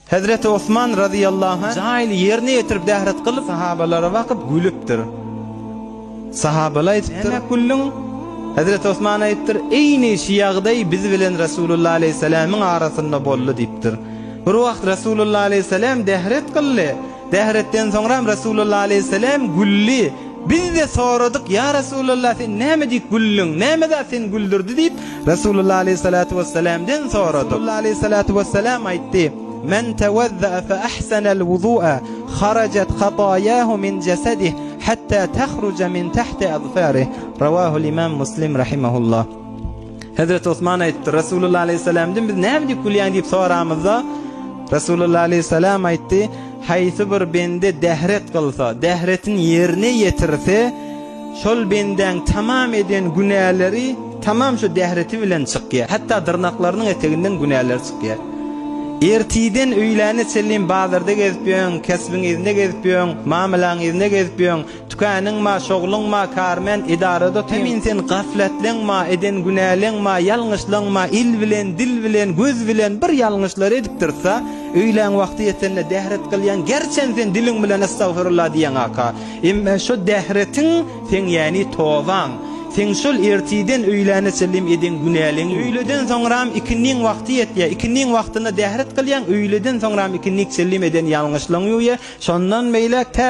Hezreti Osman razyýallahu anh jaýyny ýerine ýetirip dähret kylyp sahabalara bakyp gülüpdir. Sahabalar aýdypdyr, Näme güldüň? Hezreti Osman aýdypdyr, Eýni şu ýagdaý biz bilen Resulullah aleýhissalamyň arasynda boldy diýipdir. Bir wagt Resulullah aleýhissalam dähret kyldy. Zähretden soňram Resulullah aleýhisselam güldi. Biz-de soradyk, Ýa Resulallah, sen näme diýip güldüň? Näme zat seni güldürdi? diýip, Resulullah aleýhissalatu wesselamden soradyk. Resulullah aleýhissalatu wesselam aýtdy, Men tewezza'a fe ahsenel wuzu'a, harajat hataýahu min jesedih, hatta tahruja min tahti azfarih. Rawahul-imam Muslim rahimehullah. Hezreti Osman aýtdy, Resulullah aleyhisselamdan biz näme diýip gülýäň diýip soramyzda, Resulullah aleyhisselam aýtdy, haýsy bir bende dähret kylsa, dähretin ýerine ýetirse, şol bendäň tamam eden günäleri tamam şu dähreti bilen çykýar. Hatda dyrnaklarynyň eteginden günäleri çykýar. Ertiden öýläne çenli bazarda gezip ýöň, kesbiň yzynda gezip ýöň, mamylaň yzynda gezip ýöň. Tükeniň ma, şogluň ma, karmen, edarada otyň. Hemin sen gaflatlyň ma, eden günäliň ma, ýalňyşlyň ma, il bilen, dil bilen, göz bilen bir ýalňyşlar edip dursa, öýlän wagty ýetende dähret gylýaň, gerçem sen diliň bilen estagfirullah diýýäň aka. Emma şo dähretiň seň ýani tobaň, seň şol ertiden öýläne çenli eden günäliň. Öýleden soňram ikindiň wagty ýetýär, ikindiň wagtynda dähret gylýaň, öýleden soňram ikindik çenli eden ýalňyşlygyň ýuwýar, şondan beýläk tä